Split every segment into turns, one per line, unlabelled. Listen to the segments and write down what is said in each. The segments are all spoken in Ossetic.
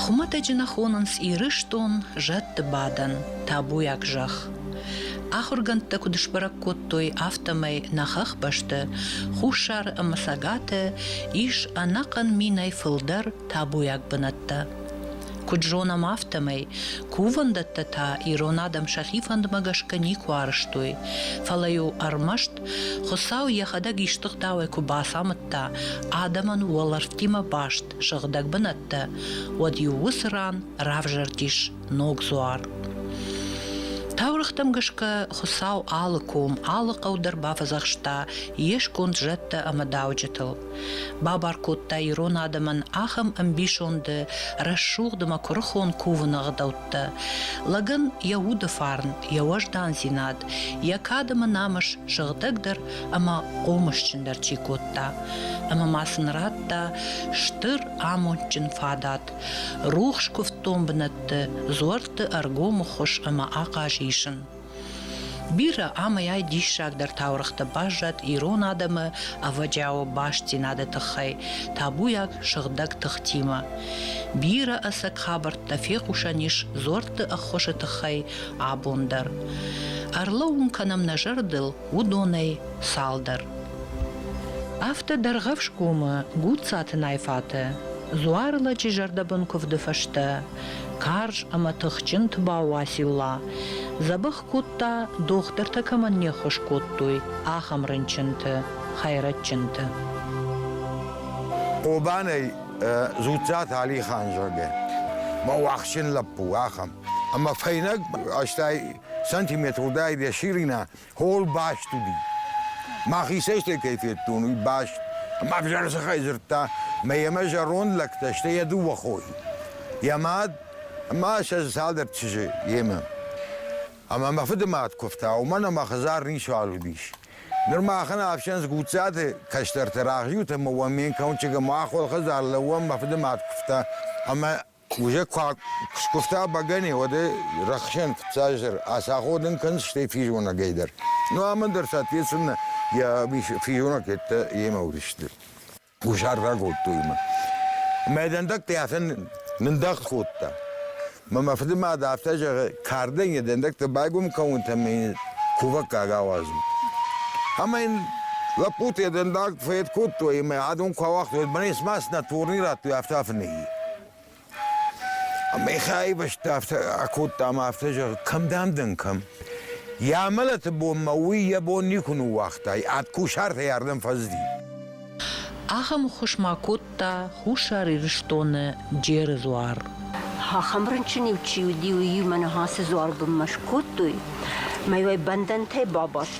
Хуымӕтӕджы нӕ хонынц Ирыстон зӕдты бадӕн, табуйаг зӕхх. Ахуыргӕндтӕ куыд сбӕрӕг кодтой, афтӕмӕй нӕ хӕхбӕсты, хуссары ӕмӕ цӕгаты ис ӕнӕхъӕн минӕй фылдӕр табуйаг бынӕттӕ. Куыд зонӕм, афтӕмӕй кувӕндӕттӕ та ирон адӕм сӕхи фӕндмӕ гӕсгӕ никуы арызтой, фӕлӕ-иу ӕрмӕст Хуыцау йӕхӕдӕг истых дауӕй куы бацамыдта адӕмӕн уӕлӕрвтимӕ баст сыгъдӕг бынӕттӕ, уӕд-иу уыцы ран равзӕрдис ног дзуар. Таурӕгътӕм гӕсгӕ Хуыцау алы ком, алы хъӕу дӕр бафӕдзӕхста йе сконд зӕдтӕ ӕмӕ дауджытыл. Бабар кодта ирон адӕмӕн ахӕм ӕмбисонды, рӕсугъд ӕмӕ куырыхон кувыны ӕгъдӕуттӕ хъуыддӕгтӕ. Лӕгӕн йӕ уды фарн, йӕ уӕздандзинад, йӕ кадӕмы намыс сыгъдӕгдӕр ӕмӕ хъомысджындӕр чи кодта. Ӕмӕ ма сын радта стыр амондджын фадат, рухс куывддон бынӕтты, дзуӕртты ӕргомы хуыз ӕмӕ ахъаз исын. Бирӕ амӕй диссагдӕр таурӕгътӕ баззад ирон адӕмы ӕвӕджиауы бастдзинады тыххӕй табуйаг сыгъдӕг тыхтимӕ. Бирӕ ӕцӕг хабӕрттӕ фехъусӕн ис дзорты ӕххуысы тыххӕй абон дӕр. Ӕрлӕууын кӕнӕм нӕ зӕрдыл уыдонӕй цалдӕр. Афтӕ Дӕргъӕвсгомы Гуццаты Найфаты дзуары лӕджы зӕрдӕбын куывды фӕстӕ карз ӕмӕ тыхджын тбау Уацилла дзӕбӕх кодта, дохтыртӕ кӕмӕн не ххуыс кодтой, ахӕм рынчынты, хӕйрӕджджынты.
Хъобанӕй Дзуццаты Алихан, зӕгъгӕ, мӕ уӕхсчын лӕппу, ахӕм. Ӕмӕ фӕйнӕг, стӕй сантиметр уыдаид йӕ ширина, Хол баст уыди. Мӕхицӕй стӕй кӕй федтон, уый баст. Ӕмӕ ӕвзӕрсыхӕй дзырдта, мӕ ӕмӕ зӕронд лӕгтӕ, стӕй йӕ дыууӕ хойы. Йӕ мад ӕмӕ сӕ дзы цалдӕр чызджы йемӕ. Ӕмӕ мӕ фыды мад куывта, уымӕн ӕмӕ хӕдзар ницуал уыдис. Ныр махӕн ӕфсӕн Гуццаты кӕстӕрты рӕхджыут ӕмӕ уӕ ме нкӕуынчъыгӕн мӕ ахуыр хӕдзар лӕууӕм, мӕ фыды мад куывта. Ӕмӕ Куы скуывта бӕгӕне, уӕд рӕхсӕн фыццаздӕр ацаходын кӕнынц, стӕй физонӕгӕй дӕр. Ну амӕн дӕр, соответственно, йӕ физонӕгӕттӕ йемӕ уыдысты. Кусаргъа кодтой мӕ. Мӕ дӕндаг хъясӕн нындӕгъд кодта. Мӕ мӕ фыды мад афтӕ зӕгъы, кардӕн йӕ дӕндӕгтӕ байгом кӕнут ӕмӕ йын кувӕггаг ауадзут. Ӕмӕ йын лӕппуты йӕ дӕндаг фӕйд кодтой ӕмӕ адон куы ауагътой, уӕд мӕнӕ цыма цынӕ турни радтой, афтӕ фынӕйи. Михаил бӕсты афтӕ акодта ӕмӕ афтӕ зӕгъы, кӕм дӕм дӕн, кӕм? Йӕ амӕлӕты бонмӕ уый йӕ бон никуы ныууагъта, ӕд кусартӕй ардӕм фӕзыди.
Ахӕм ӕххуыс ма кодта Хуссар Ирыстоны Джеры дзуар. Ахӕм
рынчын-иу чи уыди, уый-иу мӕ ныхасы дзуар бынмӕ скодтой, мӕ уӕй бӕндӕнтӕй бабадт.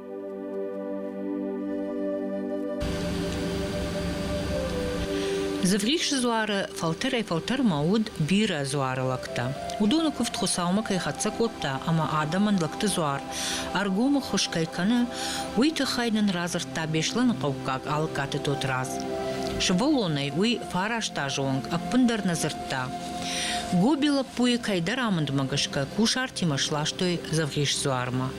Дзывгъисы дзуары фӕлтӕрӕй-фӕлтӕрмӕ уыд бирӕ дзуары лӕгтӕ. Уыдоны куывд Хуыцаумӕ кӕй хӕццӕ кодта ӕмӕ адӕмӕн лӕгты дзуар ӕргомы хуыз кӕй кӕны, уый тыххӕй нын радзырдта Беслӕныхъӕуккаг Алыккаты Тотрадз. Сывӕллонӕй уый фарӕзта зонг, ӕппындӕр нӕ дзырдта. Гоби лӕппуйы кӕйдӕр амындмӕ гӕсгӕ кусартимӕ сластой Дзывгъис дзуармӕ.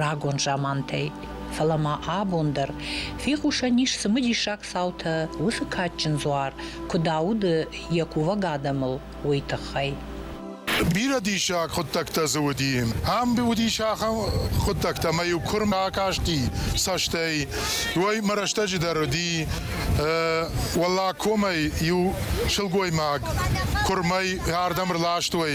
рагон замантӕй. Фӕлӕ ма абон дӕр фехъусӕн ис цымыдисаг цаутӕ уыцы кадджын дзуар куыд ауды йӕ кувӕг адӕмыл, уый тыххӕй.
Бирӕ диссаг хъуыддӕгтӕ дзы уыди. Ам уыдис ахӕм хъуыддӕгтӕ, ӕмӕ-иу куырм акасти цӕстӕй, уый мӕ рӕстӕджы дӕр уыди. Уӕллаг комӕй иу сылгоймаг куырмӕй ардӕм ӕрластой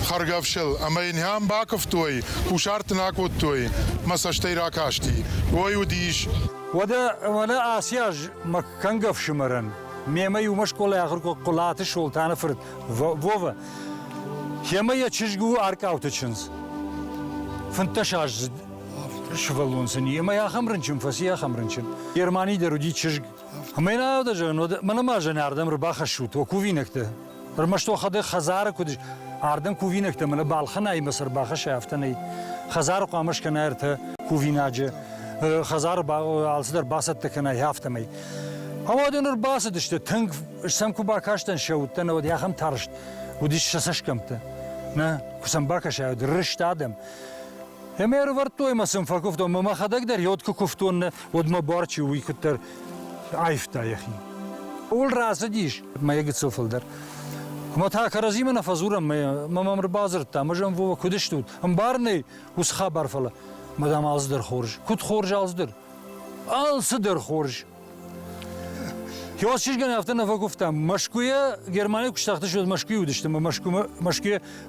хӕргӕфсыл ӕмӕ йын йӕм бакуывтой Кусарт дын акодтой, мӕ цӕстӕй ракасти. Ой, уыдис. Уӕдӕ, уӕлӕ
ацы аз мӕ кӕнгӕ ӕфсымӕрӕн, мемӕ иумӕ скъолайы ахуыр кодта Хъуылаты Солтаны фырт Вова. Йемӕ йӕ чызг у Аркъауты чындз. Фынддӕсаздзыд сывӕллон сын и, ӕмӕ ахӕм рынчын фӕци, ахӕм рынчын. Германийы дӕр уыди чызг. Ӕмӕ йын аудӕ зӕгъын, уӕдӕ мӕнӕ ма зынаргъ дӕм ӕрбахӕссут, уӕ кувинӕгтӕ. Ӕрмӕст уӕхӕдӕг хӕдзары куыд ардӕм кувинӕгтӕ мӕнӕ балхӕнӕимӕ цы ӕрбахӕсай, афтӕ нӕй. Хӕдзары хъуамӕ скӕна ӕртӕ кувинаджы, хӕдзары алцыдӕр бацӕттӕ кӕна, афтӕмӕй. Ауӕд ныр бацыдысты, тынг сӕм куы бакастӕн сӕ уыдтӕн, ауӕд ахӕм тарст уыдис сӕ цӕсгӕмттӕ. Нӕ, куы сӕм бакӕсай, уӕд рыст адӕм. Ӕмӕ ӕрывӕрдтой мӕ сын фӕкуывтон, мӕ мӕхӕдӕг дӕр йод куы куывтон, нӕ, уӕд мӕ бар чи у, уый куыддӕр Айфта йӕхи. Ул рацыдис мӕ гыццыл фылдӕр. Ӕмӕ та кӕрӕдзимӕ нӕ фӕдзурӕм мӕ мӕ мӕм ӕрбадзырдта, мӕ зӕм Вова куыд стут? Ӕмбар нӕй ус хабар, фӕлӕ мадам алцыдӕр хорз. Куыд хорз алцыдӕр? Алцыдӕр хорз. Иосиф афтӕ нӕ фӕкуывтам. Мӕскуыйӕ Германийы куы стахтысты, уӕд Мӕскуыйы уыдысты, мӕ Мӕскуымӕ Мӕскуыйӕ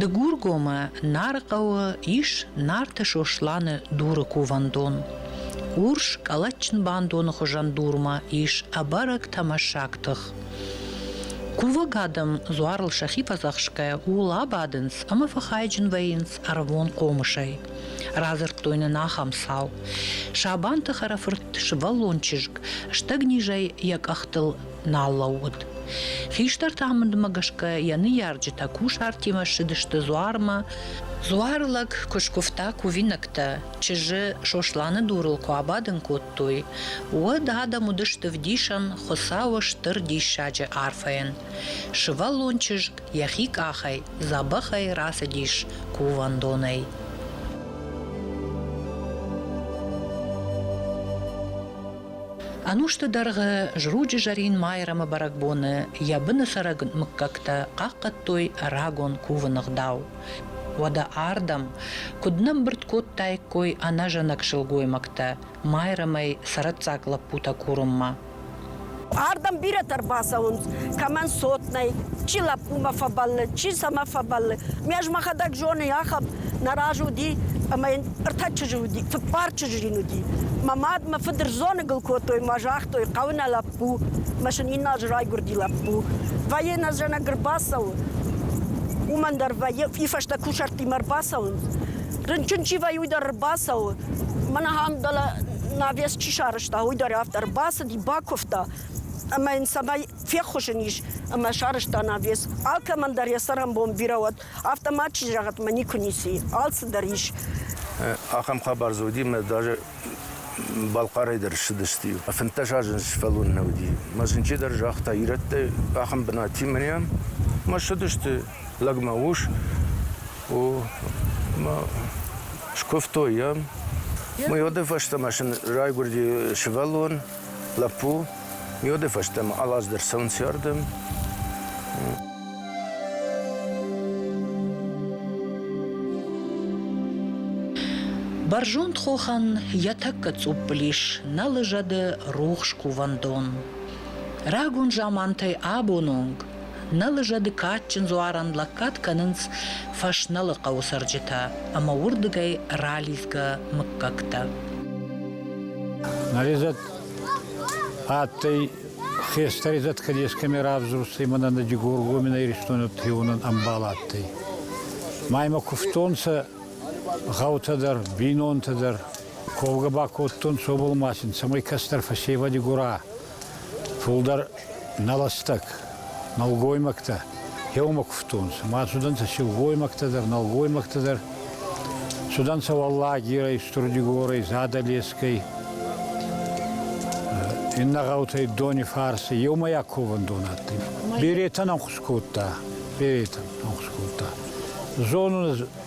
Дыгургомы Нарыхъӕуы ис Нарты Сосланы дуры кувӕндон. Урс калачын бандоны хуызӕн дурмӕ ис ӕбӕрӕг тӕмӕссаг тых. Кувӕг адӕм дзуарыл сӕхи фӕдзӕхсгӕ ууыл абадынц ӕмӕ фӕхайджын вӕййынц. ӕрвон хъомысӕй. Радзырдтой нын ахӕм цау. Сабанты хӕрӕфырт, сывӕллон чызг, стӕгнизӕй йӕ къӕхтыл нал лӕууыд. Хистӕрты амындмӕ гӕсгӕ йӕ ныййарджытӕ кусартимӕ ссыдысты дзуармӕ. Дзуары лӕг куы скуывта кувинӕгтӕ, чызджы Сосланы дурыл куы абадын кодтой, уӕд адӕм уыдысты вдисӕн Хуыцауы стыр диссаджы арфӕйӕн. Сывӕллон чызг йӕхи къахӕй дзӕбӕхӕй рацыдис кувӕндонӕй. Ӕнусты дӕргъы Зруджы Зӕрин Майрӕмы бӕрӕгбоны йӕ быны цӕрӕг мыггӕгтӕ хъахъхъӕдтой рагон кувыны гъдау. Уӕдӕ ардӕм куыд нӕмбырд кодтаиккой ӕнӕзӕнӕг сылгоймӕгтӕ Майрӕмӕй цӕрӕццаг лӕппутӕ курынмӕ. Ардӕм
бирӕтӕ ӕрбацӕуынц, кӕмӕн цот нӕй, чи лӕппумӕ фӕбӕллы, чи сӕмӕ фӕбӕллы. Ме ӕз мӕхӕдӕг зоны, ахӕм нӕ раз уыди, ӕмӕ йын ӕртӕ чызджы уыди, фыппар чызджы йын уыди. Мӕ мад, мӕ фыд рзоныгыл кодтой мӕ загътой, хъӕуы нӕ лӕппу, мӕ сын иннӕ аз райгуырди лӕппу. Вӕййы нӕ зӕнӕг ӕрбацӕуы, уымӕн дӕр вӕййы, и фӕстӕ кусӕрттимӕ ӕрбацӕуынц. рынчын чи вӕййы, уый дӕр ӕрбацӕуы. Мӕн ахӕм дӕлӕ навес чи сарӕзта, уый дӕр афтӕ ӕрбацыди, бакуывта ӕмӕ йын цӕмӕй феххуызын ис ӕмӕ сарӕзта навес. Алкӕмӕн дӕр йӕ цӕрӕнбон бирӕ уӕд. Афтӕ ма чызг зӕгъӕтмӕ никуы ницы и. Алцыдӕр ис. Ахӕм
хабар дзы уыди мӕ даже Балхъарӕй дӕр ссыдысты. Фынддӕс азы сфӕлон нӕ уыди. Мӕ зынджы дӕр загъта, ирӕттӕ ахӕм бынат и мӕнӕ. Мӕ ссыдысты лӕгмӕ ус у мӕ скуывтой йӕм. Мы йоды фӕстӕмӕ сын райгуырди сывӕллон, лӕппу. Йоды фӕстӕмӕ алаздӕр цӕуын сӕрдым.
Бӕрзонд хохӕн йӕ тӕккӕ цъуппыл ис нӕ лыжӕды рухс кувӕндон. Рагон замантӕй абон онг Нӕ лыжӕды кадджын дзуарӕн лӕггад кӕнынц Фӕснӕлы хъӕуы цӕрджытӕ ӕмӕ уырдыгӕй ралидзгӕ мыггӕгтӕ.
Нарезӕт адтӕй хестӕрезӕт Кадескӕми равзурстӕй мӕнӕн Дигоргомин Иристони треунӕн ӕмбал адтӕй. Ма имӕ кувтонцӕ гъӕутӕ дӕр, бийнонтӕ дӕр. Ковгӕ ба кодтонцӕ обал ма син, цӕмӕй кӕстӕр фӕсевӕди гора Фулдӕр нӕлӕстаг нӕлгоймӕгтӕ еумӕ кувтонцӕ. Ма цудӕнцӕ силгоймӕгтӕ дӕр, нӕлгоймӕгтӕ дӕр. Цудӕнцӕ Уӕллагирӕй, Стурдигорӕй, Задӕлескӕй, иннӕ гъӕутӕй Донифарси. Еумӕйаг ковӕндон адтӕй. Беретӕн ӕнхус кодта. Беретӕн ӕнхус кодта. Зонун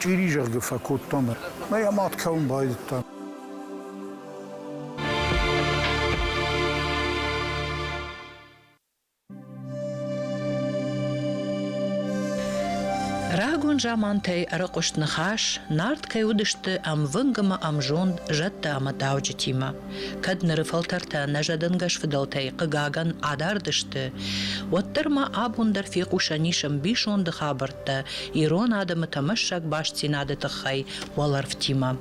чъири зӕгъгӕ фӕкодтам ӕмӕ йӕ мад кӕуын байдыдта. Рагон
замантӕй ӕрыхъуыст ныхас, нард кӕй уыдысты ӕмвынг ӕмӕ ӕмзонд зӕдтӕ ӕмӕ дауджытимӕ. Кӕд ныры фӕлтӕртӕ нӕ зӕдӕнгӕс фыдӕлтӕй, хъыгагӕн, адард сты, уӕддӕр ма абон дӕр фехъусӕн ис ӕмбисонды хабӕрттӕ ирон адӕмы тӕмӕссаг бастдзинады тыххӕй уӕлӕрвтимӕ.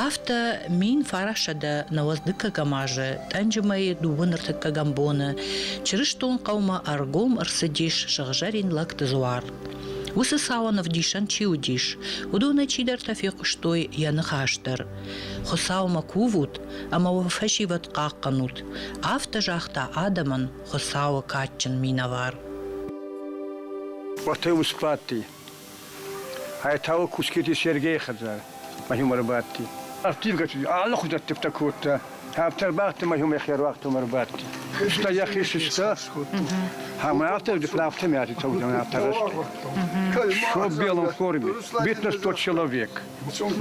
Афтӕ мин фарасӕдӕ нӕуӕдз дыккӕгӕм азы тъӕнджы мӕйы дыууын ӕртыккӕгӕм боны чырыстон хъӕумӕ ӕргом ӕрцыдис сыгъзӕрин лӕгты дзуар. Уыцы цауӕн ӕвдисӕн чи уыдис, уыдоны чидӕртӕ фехъуыстой йӕ ныхас дӕр. Хуыцаумӕ кувут ӕмӕ уӕ фӕсивӕд хъахъхъӕнут, афтӕ загъта адӕмӕн Хуыцауы кадджын минӕвар.
Уотӕ усбадти Айтауы Кускети Сергейи хӕдзар ма хумӕ рбадти. Ӕрттивгӕ алы хузӕттивтӕ кодта, ӕфтӕр бӕхти ма хумӕ херуагтӕмӕ рбадти. Фыста йӕхи сыста, ӕмӕ афтӕ афтӕ мӕти цӕудзӕн афтӕ рӕзти. Все в белом форме, битный тот человек.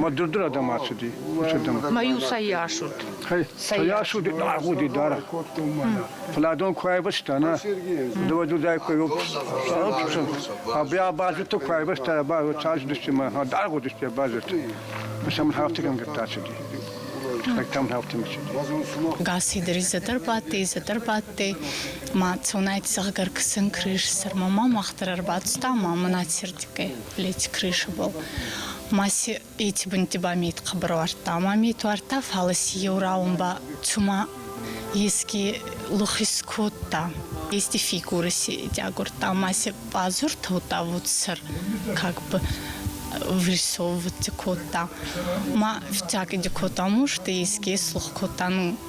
Мӕ дырдыр адӕм ацыди, уыцырдӕм. Мӕ-иу
сӕ йас уыд. Хӕй, сӕ йас
уыди, агъуди дарӕг. Фӕлӕ дон куы айвӕзта, нӕ, дывӕдудӕй куы йоппсын, абазыты куы айвӕзта, цасдысты мӕ, агъуыдысты абазыты. Сӕ мын хафтыгӕнгӕттӕ ацыди. Хӕйтӕм хафтын ацыди.
Гассидыри зӕдӕр бадти, зӕдӕр бадти, ма цонӕй цӕгъгӕр кысын крыс сӕрмӕ ма мах дӕр ӕрбацыд ӕмӕ мӕнӕ ацырдыгӕй. плети крыши был. Маси эти бынтти ба мейт хъабарвардта, ама мейт вардта, фалы си еу раун ба цума еске лухис кодта. Эсти фигуры си дягурта, ама се пазуртаутта вот сыр, как бы вырисовывать кодта. Ма всякиди котаму, что еске слух кота, ну,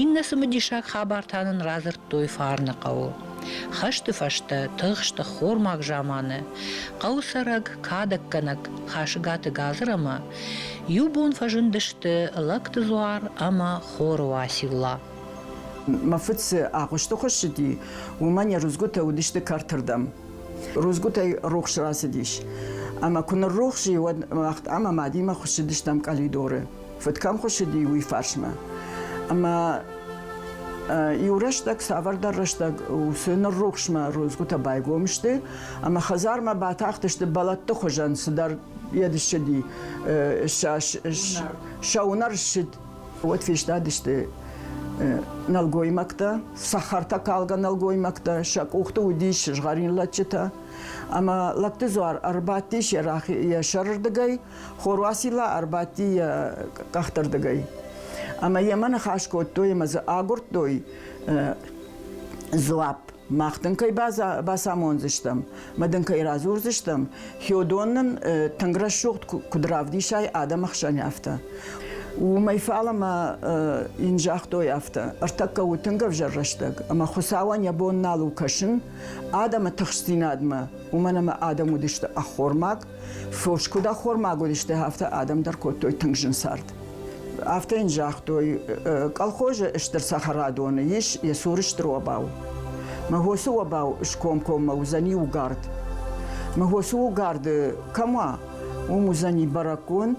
Иннӕ цымыдисаг хабар та нын радзырдтой Фарны хъӕуы. Хӕсты фӕстӕ тыхст ӕххормаг заманы хъӕуы цӕрӕг кадӕггӕнӕг Хасыгаты Газыр ӕмӕ иу бон фӕзындысты Лӕгты дзуар ӕмӕ Хоры Уацилла. Мӕ фыд
цы агъуысты хуыссыди, уымӕн йӕ рудзгуытӕ уыдысты кӕртырдӕм. Рудзгуытӕй рухс рацыдис. Ӕмӕ куы ныррухс и, уӕд уӕхт ӕмӕ мадимӕ хуыссыдыстӕм къӕлидоры. Фыд кӕм хуыссыди, уый фарсмӕ. Ӕмӕ иу рӕстӕг, цавӕрдӕр рӕстӕг уыцы ныррухсмӕ рудзгуытӕ байгом сты, ӕмӕ хӕдзармӕ батахтысты бӕлӕтты хуызӕн цыдӕр йед ссыди. Сӕ уынӕр ссыд. Уӕд фестадысты нӕлгоймӕгтӕ, сахартӕ калгӕ нӕлгоймӕгтӕ, сӕ къухты уыдис згъӕрин лӕдджытӕ. Ӕмӕ лӕгты дзуар ӕрбадтис йӕ сӕрырдыгӕй, Хоруасилла ӕрбадти йӕ къӕхты рдыгӕй. Ӕмӕ йемӕ ныхас кодтой ӕмӕ дзы агуырдтой дзуапп. Мах дын кӕй бацамондзыстӕм, мӕ дын кӕй радзурдзыстӕм, Хёдон нын тынг рӕсугъд куыд равдисай адӕмы хсӕн афтӕ. Уымӕй фалӕмӕ йын загътой афтӕ: ӕртӕккӕ у тынг ӕвзӕр рӕстӕг, ӕмӕ Хуыцауӕн йӕ бон нал у кӕсын адӕмы тыхстдзинадмӕ, уымӕн ӕмӕ адӕм уыдысты ӕххормаг, фос куыд ӕххормаг уыдысты, афтӕ адӕм дӕр кодтой тынг зын цард. Афтӕ йын загътой, колхозы стыр цӕхӕрадоны ис йӕ цуры стыр обау. Мӕгосы обау скомкоммӕ уыдзӕни угард. Мӕгосы угарды кӕм уа, уым уыдзӕни бӕрӕггонд,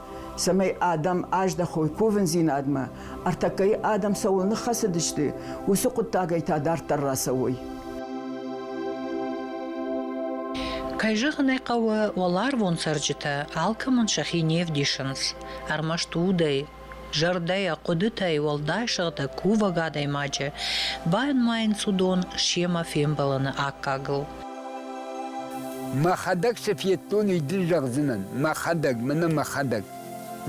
цӕмӕй адӕм аздӕхой кувындзинадмӕ, ӕртӕккӕйы адӕм цӕуыл ныххӕцыдысты, уыцы хъуыддагӕй та дарддӕр рацӕуой.
Кӕй зӕгъын ӕй хъӕуы, уӕларвон цӕрджытӕ алкӕмӕн сӕхи не вдисынц, ӕрмӕст удӕй, зӕрдӕйӕ, хъуыдытӕй, уӕлдай сыгъдӕг кувӕг адӕймаджы, банымайынц уыдон семӕ фембӕлыны аккагыл.
Мӕхӕдӕг сӕ федтон, уый дын зӕгъдзынӕн. Мӕхӕдӕг, мӕнӕ мӕхӕдӕг.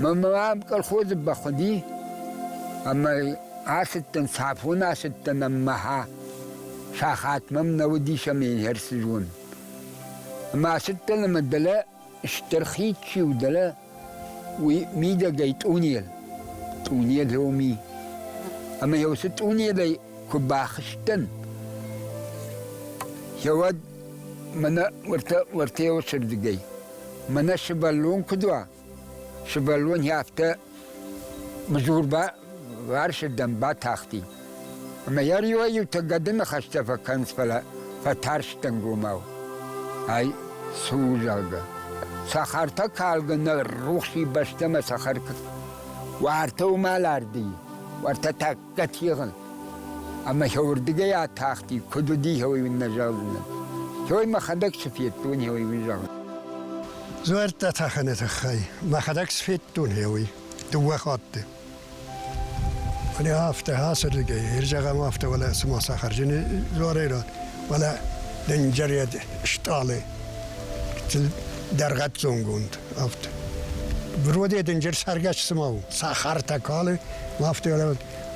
Мӕнмӕ ам колхозы бахъуыди, ӕмӕ ацыдтӕн, Сафоны ацыдтӕн ӕммӕхӕ. Сахат мӕм нӕ уыдис ӕмӕ ӕрцызон. Ӕмӕ ацыдтӕн ӕмӕ дӕлӕ Стыр хид чи у дӕлӕ, уый мидӕгӕй тъунел, тъунел роми. Ӕмӕ йӕ уыцы тъунелӕй куы бахызтӕн, уӕд мӕнӕ уӕртӕ уӕртӕ уыцырдыгӕй. Мӕнӕ сывӕллон куыд уа, сывӕллон йӕ афтӕ Мызур ба уарсирдӕм батахти. Ӕма йӕ риуӕй-иутӕ гӕдыны хӕстӕ фӕкӕнынц, фӕлӕ фӕтарстӕнгомау. Ай цы у, зӕгъгӕ. Сахартӕ калгӕ нӕ рухси бӕстӕмӕ сахар куы уартӕ уымӕл ардыйы, уартӕ та Категын. Ӕмӕ хеуырдыгӕй атахти, куыд уыди хеуый нӕ зӕгъын. Хеуый мӕхӕдӕг цы федтон хеуый зӕгъын. Дзуӕрттӕ
тӕхыны тыххӕй мӕхӕдӕг сфедтон хеуый дыууӕ хатты. Фӕлӕ афтӕ ацырдыгӕй, ирзӕгъӕм афтӕ, уӕлӕ цыма сахарджыны дзуарӕй рад, уӕлӕ дынджырӕд стъалы дӕргъӕццонгонд. Афтӕ. Броде дынджыр цӕргӕс цыма у. Сахартӕ калы, Афтӕ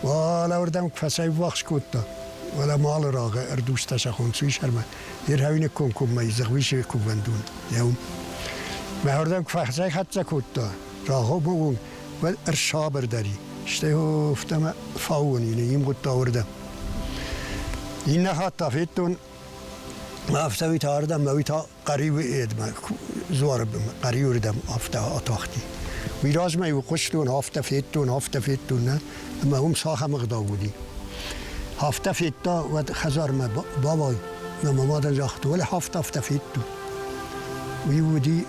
уӕлӕуырдӕм куы фӕцӕйввахс кодта, уӕлӕ малы рагъы ӕрдузтӕ сӕ хонцуй сӕрмӕ, Ирхӕвины комкоммӕ Дзыгъвисы кувӕндон еу. Мӕ уырдӕм куы фӕцӕйхӕццӕ кодта, рагъобогон ӕрсабырдари, стӕй офтӕмӕ фауон ин имгъудта уырдӕм. Иннӕ хатт та федтон, афтӕ уый та ардӕм, мӕ уый та Хъӕриуы едмӕ, дзуары бын, хъӕриуы рдӕм афтӕ атахти. Уый размӕ иу хъуыстон, афтӕ федтон, афтӕ федтон, нӕ? Ӕмӕ уым сахам ӕгъдау уыди. Афтӕ федта, уӕд хӕдзармӕ бавай. Мӕ мамадан загъта, уӕле афтӕ, афтӕ федту. Уый уыди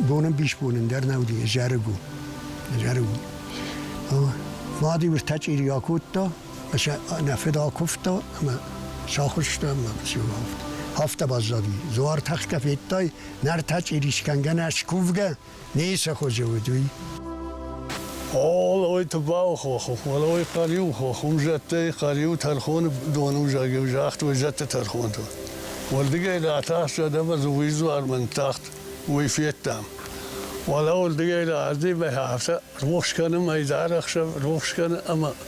бонӕмбисбонӕн дӕр нӕ уыди, зӕрыгу. Зӕрыгу. Мад-иу ӕртӕчъири акодта, нӕ федал куывта ӕмӕ сахуыста ӕмӕ сивӕлд. Афтӕ баззади. Зуар тахтӕ федтай, нартӕ чъирискӕнгӕ нӕ скувгӕ, не сӕ хуызы уыд уый. Олой
тыбал хоху, олой хъӕриу хоху, зӕдтӕй хъӕриу тӕрхоны дону загиу загътой зӕдты тӕрхонтыл. Уырдыгӕй ратахт зӕдӕмӕ зуй зуармӕн тахт, уый федтам. Уӕлӕ уырдыгӕй раздей бӕхы афтӕ рохс кӕны мӕйдар ӕхсӕв, рохс кӕны ӕмӕ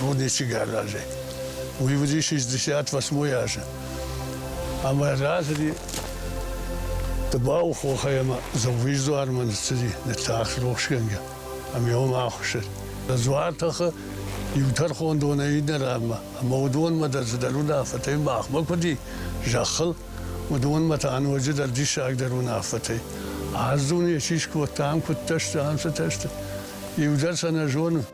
рудничыг аразӕй. Уйвуди 68 азы. Ӕмӕ разыди Тыбау хохӕй ӕмӕ Дзӕугъиздуармӕ ныццыди ныццахс рохсгӕнгӕ. Ӕмӕ йӕм ахуыссыд. Дзуар тӕхы иу тӕрхондонӕй иннӕ ранмӕ. Ӕмӕ уыдонмӕ дӕр цыдӕр уынаффӕтӕй махмӕ куыд и зӕххыл, уыдонмӕ та ноджыдӕр диссагдӕр уынаффӕтӕй. Ӕз дун ечи скодтам, куыдтӕ сты, ам цытӕ сты. Иу дӕр сӕ нӕ зонын.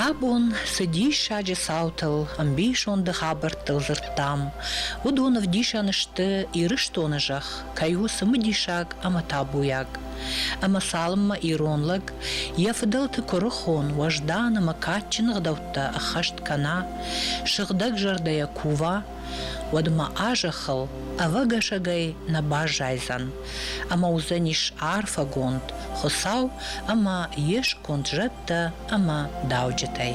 Абон цы диссаджы цаутыл, ӕмбисонды хабӕрттыл дзырдтам, уыдон ӕвдисӕн сты, Ирыстоны зӕхх кӕй у цымыдисаг ӕмӕ табуйаг. Ӕмӕ цалынмӕ ирон лӕг йӕ фыдӕлты куырыхон, уӕздан ӕмӕ кадджын ӕгъдӕуттӕ ӕххӕст кӕна, сыгъдӕг зӕрдӕйӕ кува, уӕд мӕ а зӕххыл ӕвӕгӕсӕгӕй нӕ баззайдзӕн, ӕмӕ уыдзӕнис арфӕгонд Хуыцау ӕмӕ йе сконд зӕдтӕ ӕмӕ дауджытӕй.